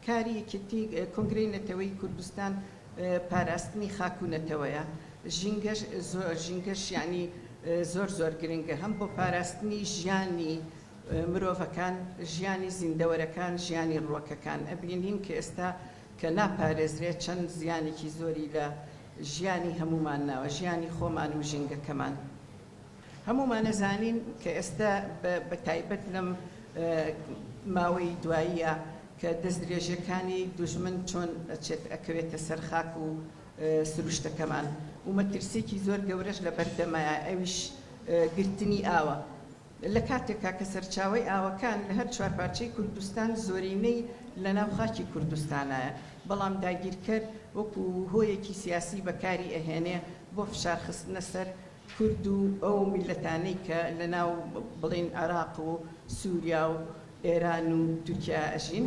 کاری یەکێتی کۆنگرەی نەتەوەیی کوردستان پاراستنی خاک و نەتەوەیە ژینگەش زۆر ژینگەش یعنی زۆر زۆر گرنگە هەم بۆ پاراستنی ژیانی مرۆڤەکان ژیانی زیندەوەرەکان ژیانی ڕوەکەکان ئەبینین کە ئێستا کە ناپارێزرێت چەند زیانێکی زۆری لە ژیانی هەمومان ناوە ژیانی خۆمان و ژینگەکەمان هەموومان ئەزانین کە ئێستا بە تایبەت لەم ماوەی دواییە کە دەستدرێژیەکانی دوژمن چۆن ئەچێت ئەکەوێتە سەر خاک و سروشتەکەمان و مەترسیەکی زۆر گەورەش لە بەردەمە ئەویش گرتنی ئاوە. لە کاتێکا کە سەرچاوەی ئاوەکان لە هەر چوار پارچەی کوردستان زۆرینەی لە ناو خاکی کوردستانایە، بەڵام داگیرکەر وەکو هۆیەکی سیاسی بەکاری ئەهێنێ بۆ فشار خستنە سەر کورد و ئەو میللەتانەی کە لە ناو بڵێین عێراق و سوریا و ئێران و تورکیا ئەژین.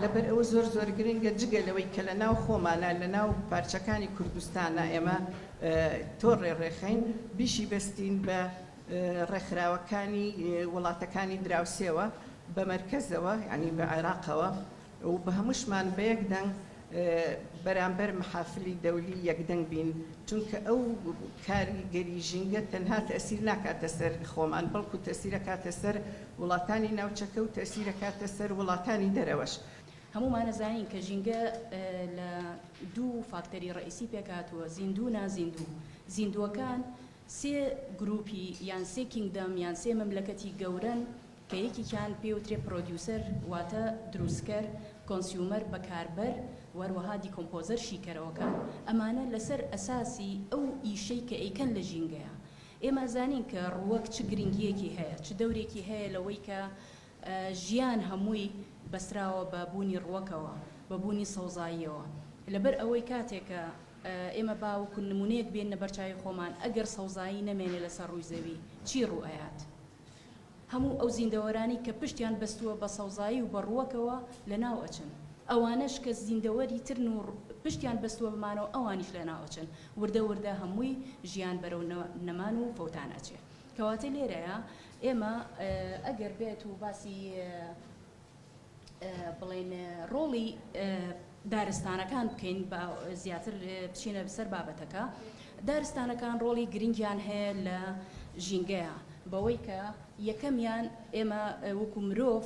لەبەر ئەوە زۆر زۆر گرنگە جگە لەوەی کە لە ناو خۆمانا لە ناو پارچەکانی کوردستانا ئێمە تۆ ڕێ ڕێخەین بیشی بەستین بە ڕێکخراوەکانی وڵاتەکانی دراوسێوە بە مەرکەزەوە یانی بە عێراقەوە و بە هەمووشمان بە یەک دەنگ بەرامبەر محافلی دەولی یەکدەنگ بین چونکە ئەو کاریگەری ژینگە تەنها تەسیر ناکاتە سەر خۆمان بەڵکو تەسیرە کاتە سەر وڵاتانی ناوچەکە و تەسیرە کاتە سەر وڵاتانی دەرەوەش. هەموومان ئەزانین کە ژینگە لە دوو فاکتەری ڕئیسی پێکهاتووە زیندوو و نازیندوو زیندووەکان سێ گروپی یان سێ کینگدەم یان سێ مەملەکەتی گەورەن کە یەکیکیان پێی وترێ پرۆدیوسەر واتە دروستکەر، کۆنسیومەر بەکاربەر و هەروەها دیکۆمپۆزەر شیکەرەوەکان ئەمانە لەسەر ئەساسی ئەو ئیشەی کە ئەیکەن لە ژینگەیا ئێمە ئەزانین کە ڕووەک چ گرنگیەکی هەیە چ دەورێکی هەیە لەوەی کە ژیان هەمووی بەستراوە بە بوونی ڕووەکەوە بە بوونی سەوزاییەوە لەبەر ئەوەی کاتێک کە ئێمە با وەکو نمونەیەک بێننە بەرچاوی خۆمان، ئەگەر سەوزایی نەمێنێ لەسەر ڕووی زەوی، چی ڕوو ئەیات؟ هەموو ئەو زیندەوەرانەی کە پشتیان بەستووە بە سەوزایی و بە ڕووەکەوە لەناو ئەچن. ئەوانەش کە زیندەوەری ترن و پشتیان بەستووە بەمانەوە ئەوانیش لەناو ئەچن. وردە وردە هەمووی ژیان بەرەو نەمان و فەوتان ئەچێ. کەواتە لێرەیا ئێمە ئەگەر بێت و باسی. بڵێن ڕۆڵی دارستانەکان بکەین بە زیاتر بچینە بسەر بابەتەکە دارستانەکان ڕۆڵی گرنگیان هەیە لە ژینگەیە بەوەی کە یەکەمیان ئێمە وەکو مرۆڤ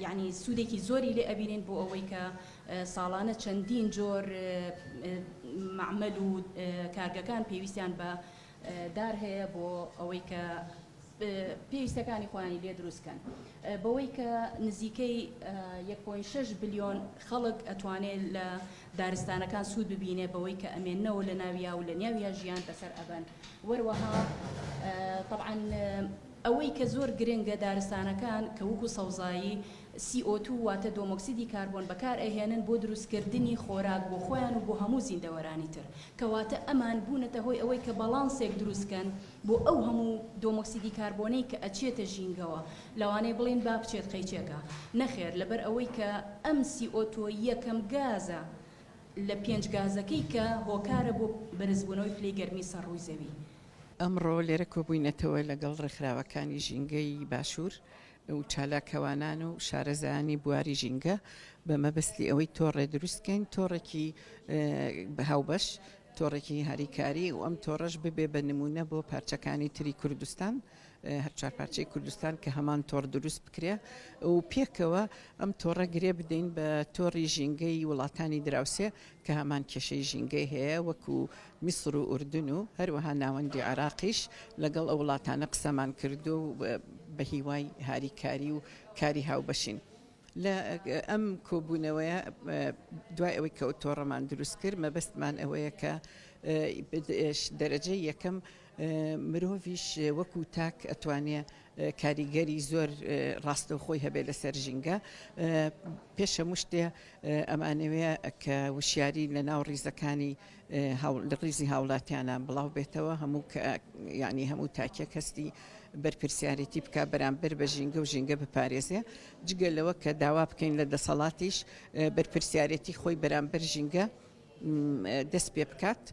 یعنی سوودێکی زۆری لێ ئەبینین بۆ ئەوەی کە ساڵانە چەندین جۆر معمل و کارگەکان پێویستیان بە دار هەیە بۆ ئەوەی کە پێویستەکانی خۆیانی لێ دروست کەن بەوەی کە نزیکەی یەک پۆینت شەش بلیۆن خەڵک ئەتوانێ لە دارستانەکان سوود ببینێ بەوەی کە ئەمێنەوە لە ناویا و لە نیاویا ژیان بەسەر ئەبەن وەروەها طبعاً ئەوەی کە زۆر گرنگە دارستانەکان کە وکو سەوزایی سی ئۆ تو واتە دۆمۆکسیدی کاربۆن بەکار ئەهێنن بۆ دروستکردنی خۆراک بۆ خۆیان و بۆ هەموو زیندەوەرانی تر کەواتە ئەمان بوونەتە هۆی ئەوەی کە بەڵانسێک دروست کەن بۆ ئەو هەموو دۆمۆکسیدی کاربۆنەی کە ئەچێتە ژینگەوە لەوانەیە بڵێن با بچێت قەیچێکە نەخێر لەبەر ئەوەی کە ئەم سی ئۆ تۆ یەکەم گازە لە پێنج گازەکەی کە هۆکارە بۆ بەرزبوونەوەی پلەی گەرمی سەر ڕووی زەوی. ئەمڕۆ لێرە کۆبووینەتەوە لەگەڵ ڕێکخراوەکانی ژینگەی باشوور و چالاکەوانان و شارەزایانی بواری ژینگە بە مەبەستی ئەوەی تۆڕێ دروست کەین تۆڕێکی هاوبەش تۆڕێکی هاریکاری و ئەم تۆڕەش ببێ بە نموونە بۆ پارچەکانی تری کوردستان هەر چوار پارچەی کوردستان کە هەمان تۆڕ دروست بکرێ و پێکەوە ئەم تۆڕە گرێ بدەین بە تۆڕی ژینگەی وڵاتانی دراوسێ کە هەمان کێشەی ژینگەی هەیە وەکو میسر و ئوردن و هەروەها ناوەندی عراقیش لەگەڵ ئەو وڵاتانە قسەمان کردو بە هیوای هاریکاری و کاری هاوبەشین. لە ئەم کۆبوونەوەیە دوای ئەوەی کە ئەو تۆڕەمان دروست کرد مەبەستمان ئەوەیە کە دەرەجەی یەکەم مرۆڤیش وەکو تاک ئەتوانێ کاریگەری زۆر ڕاستەوخۆی هەبێت لەسەر ژینگە پێشە مشتێ ئەمانەوێ کە وشیاری لە ناو ڕیزەکانی لە ڕیزی هاوڵاتیانە بڵاو بێتەوە هەموو یعنی هەموو تاکێک هەستی بەرپرسیارێتی بک بەرامبەر بە ژینگە و ژینگە بپارێزێ جگە لەوە کە داوا بکەین لە دەسەڵاتیش بەرپرسیارێتی خۆی بەرامبەر ژینگە دەست پێ بکات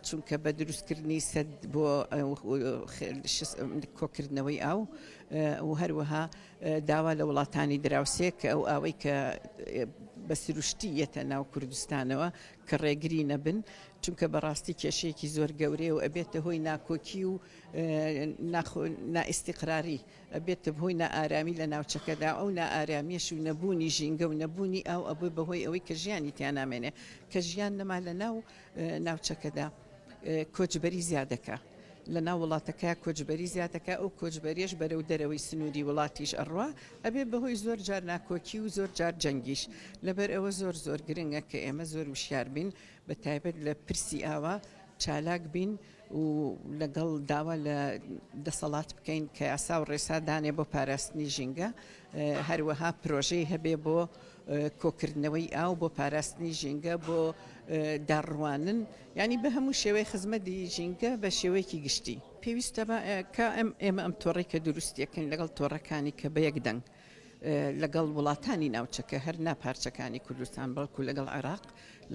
چونکە بە دروستکردنی سەد بۆ کۆکردنەوەی ئاو و هەروەها داوا لە وڵاتانی دراوسێک ئەو ئەوەی کە بە سروشتی یەتە ناو کوردستانەوە کە ڕێگری نەبن چونکە بەڕاستی کێشەیەکی زۆر گەورەیە و ئەبێتە هۆی ناکۆکی و نائیسیقراری ئەبێتە بهۆی نائارامی لە ناوچەکەدا ئەو نائارامیش و نەبوونی ژینگە و نەبوونی ئاو ئەبێ بەهۆی ئەوەی کە ژیانی تیانامێنێ کە ژیان نەما لە ناو ناوچەکەدا. کۆچبەری زیادەکا لەناو وڵاتەکە کۆچبەری زیاتەکە ئەو کۆچبەریش بەرەو دەرەوەی سنووری وڵاتیش ئەڕوا ئەبێ بەهۆی زۆر جار ناکۆکی و زۆر جار جەنگیش لەبەر ئەوە زۆر زۆر گرنگە کە ئێمە زۆر وشیار بین بە تایبەت لە پرسی ئاوا چالاک بین و لەگەڵ داوا لە دەسەڵات بکەین کە یاسا و ڕێسادانێ بۆ پاراستنی ژینگە هەروەها پرۆژەی هەبێ بۆ کۆکردنەوەی ئاو بۆ پاراستنی ژینگە بۆ داڕوانن ینی بە هەموو شێوەی خزمەتی ژینگە بە شێوەیەکی گشتی پێویستە کە ئەم ئێمە ئەم تۆڕی کە دروستیەکەین لەگەڵ تۆڕەکانی کە بە یەک دەنگ لەگەڵ وڵاتانی ناوچەکە هەر ناپارچەکانی کوردستان بەڵکو لەگەڵ عێراق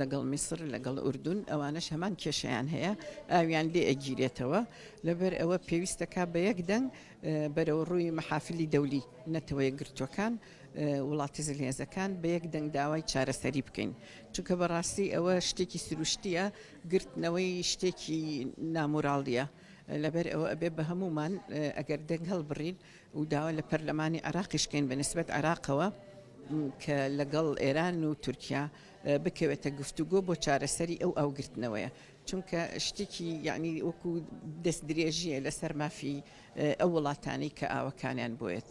لەگەڵ میسر لەگەڵ ئوردون ئەوانش هەمان کێشیان هەیە ئاویان لێ ئەگیرێتەوە لەبەر ئەوە پێویستەکە بە یەک دەنگ بەرەوڕووی مەحافلی دەولی نەتەوە یەکگرتووەکان وڵاتە زلهێزەکان بە یەک دەنگ داوای چارەسەری بکەین چونکە بەڕاستی ئەوە شتێکی سروشتیە گرتنەوەی شتێکی نامۆراڵیە لەبەر ئەوە ئەبێ بە هەمومان ئەگەر دەنگ هەڵبڕین و داوا لە پەرلەمانی عراقیشکەین بە نسبەت عراقەوە کە لەگەڵ ئێران و تورکیا بکەوێتە گفتوگۆ بۆ چارەسەری ئەو ئەوگرتنەوەیە چونکە شتێکی یەعنی وەکو دەست درێژیە لەسەر مافی ئەو وڵاتانەی کە ئاوەکانیان بۆیەت.